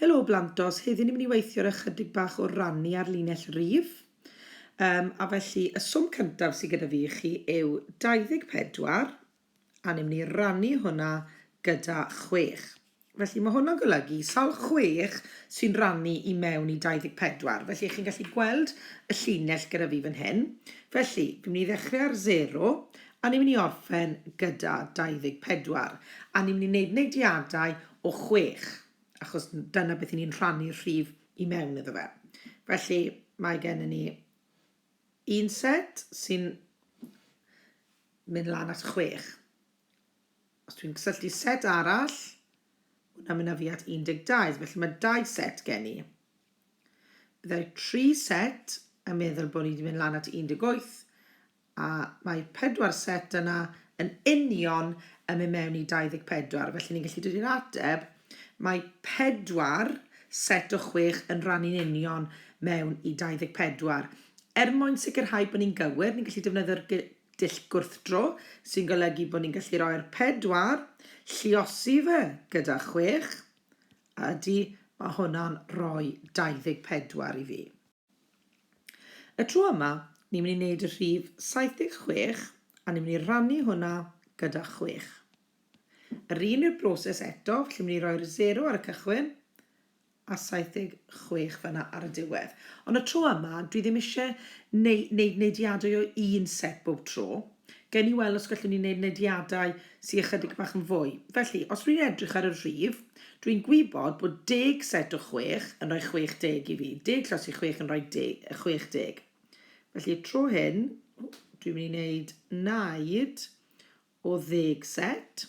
Helo blant os, heddi ni'n mynd i weithio ar ychydig bach o rannu ar linell rif. Um, a felly y swm cyntaf sydd gyda fi i chi yw 24 a ni'n mynd i rannu hwnna gyda 6. Felly mae hwnna'n golygu sawl 6 sy'n rannu i mewn i 24. Felly chi'n gallu gweld y llinell gyda fi fan hyn. Felly, fi'n mynd i ddechrau ar 0 A ni'n mynd i orffen gyda 24, a ni'n mynd i wneud neidiadau o chwech, achos dyna beth 'y ni'n rhannu'r rhif i mewn iddo fe. Felly, mae gennym ni un set sy'n mynd lan at chwech. Os dwi'n cysylltu set arall, hwnna'n mynd â fi at 12, felly mae dau set gen i. Byddai tri set yn meddwl bod ni wedi mynd lan at 18, a mae pedwar set yna yn union yn mynd mewn i 24, felly ni'n gallu dod i'r ateb, mae pedwar set o chwech yn rhannu'n union mewn i 24. Er mwyn sicrhau bod ni'n gywir, ni'n gallu defnyddio'r dull gwrthdro, sy'n golygu bod ni'n gallu rhoi'r pedwar, lliosi fe gyda chwech, a ydy, mae hwnna'n rhoi 24 i fi. Y tro yma, ni'n mynd i wneud y rhif 76 a ni'n mynd i rannu hwnna gyda chwech. Yr un yw'r broses eto, felly ni'n mynd i roi'r 0 ar y cychwyn a 76 fanna ar y diwedd. Ond y tro yma, dwi ddim eisiau neu, neu, neidiadau o un set bob tro. Gawn ni weld os gallwn ni wneud nediadau sy ychydig bach yn fwy. Felly, os dwi'n edrych ar y rhif, dwi'n gwybod bod deg set o chwech yn rhoi chwech deg i fi. Deg llos i chwech yn rhoi de- yy, chwech deg. Felly, y tro hyn, dwi'n mynd i wneud naid o ddeg set,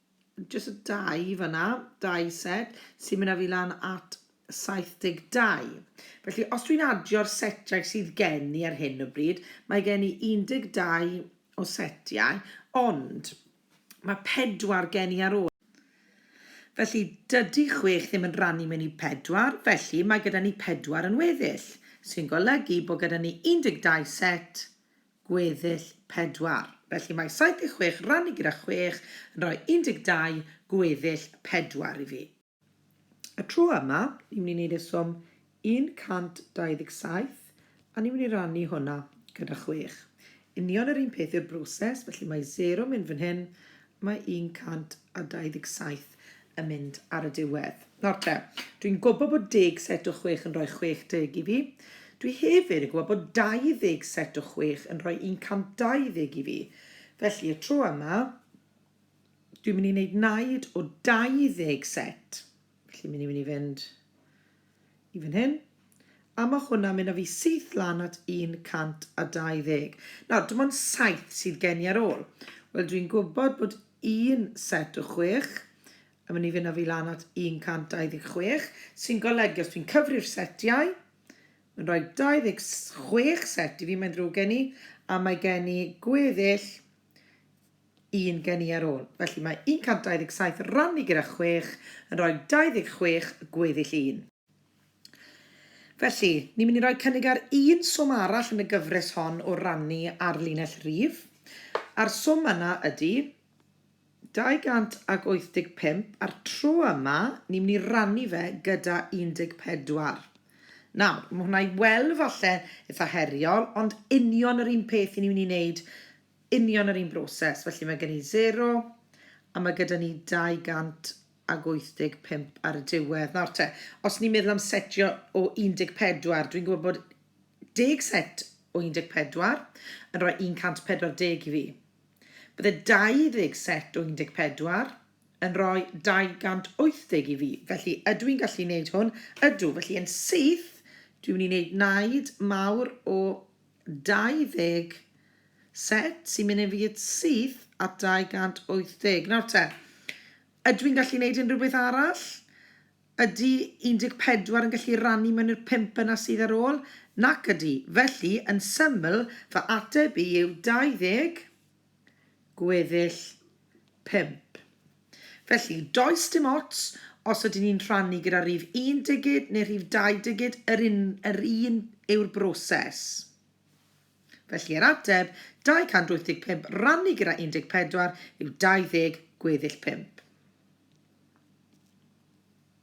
Jyst y dau fanna, dau set, sy'n mynd â fi lan at 72. Felly, os dwi'n adio'r setiau sydd gen i ar hyn o bryd, mae gen i 12 o setiau, ond mae pedwar gen i ar ôl. Felly, dydy chwech ddim yn rannu mewn i pedwar, felly mae gyda ni pedwar yn weddill, sy'n golygu bod gyda ni 12 set gweddill pedwar. Felly mae 76 rannu gyda chwech yn rhoi 12 gweddill pedwar i fi. Y tro yma, ni'n mynd i wneud e swm 127, a ni'n mynd i rannu hwnna gyda chwech. Union yr un peth yw'r broses, felly mae 0 yn mynd fan hyn, Mae 127 yn mynd ar y diwedd. Nawr te, dwi'n gwybod bod deg set o chwech yn rhoi 60 i fi. Dwi hefyd yn gwybod bod 20 set o chwech yn rhoi 120 i fi. Felly, y tro yma, dwi'n mynd i wneud naid o 20 set. Felly, mynd i mynd i fynd i fan hyn, a mae hwnna'n mynd â fi syth lan at 120. Nawr, dim ond saith sydd gen i ar ôl. Wel, dwi'n gwybod bod un set o chwech yn mynd i fynd â fi lan at 126, sy'n golygu os dwi'n cyfri'r setiau, mae'n rhoi 26 set i fi, mae'n ddrwg gen i, a mae gen i gweddill un gen i ar ôl. Felly mae 127 rannu gyda 6 yn rhoi 26 gweddill 1. Felly, ni'n mynd i roi cynnig ar un swm arall yn y gyfres hon o rannu ar linell rif, a'r swm yna ydy 285, a'r tro yma ni'n mynd i rannu fe gyda 14. Nawr, mae hwnna i weld falle eitha heriol, ond union yr un peth i ni'n mynd i wneud, union yr un broses. Felly mae gen i 0, a mae gyda ni 285 ar y diwedd. Nawr te, os ni'n meddwl am setio o 14, dwi'n gwybod bod deg set o 14 yn rhoi 140 i fi. Bydde 20 set o 14 yn rhoi 280 i fi, felly ydw i'n gallu wneud hwn? Ydw, felly yn syth, dwi'n mynd i wneud naid mawr o 20 set sy'n mynd i fi yn syth at 280. Nawr te, ydw i'n gallu wneud unrhyw beth arall? Ydy 14 yn gallu rannu mewn i'r 5 yna sydd ar ôl? Nac ydy, felly yn syml fy ateb i yw 20 gweddill pump. Felly, does dim ots os ydyn ni'n rhannu gyda rhif un digid neu rhif dau digid, yr un, yr un yw'r broses. Felly, yr ateb, 285 rannu gyda 14, yw 20 gweddill pump.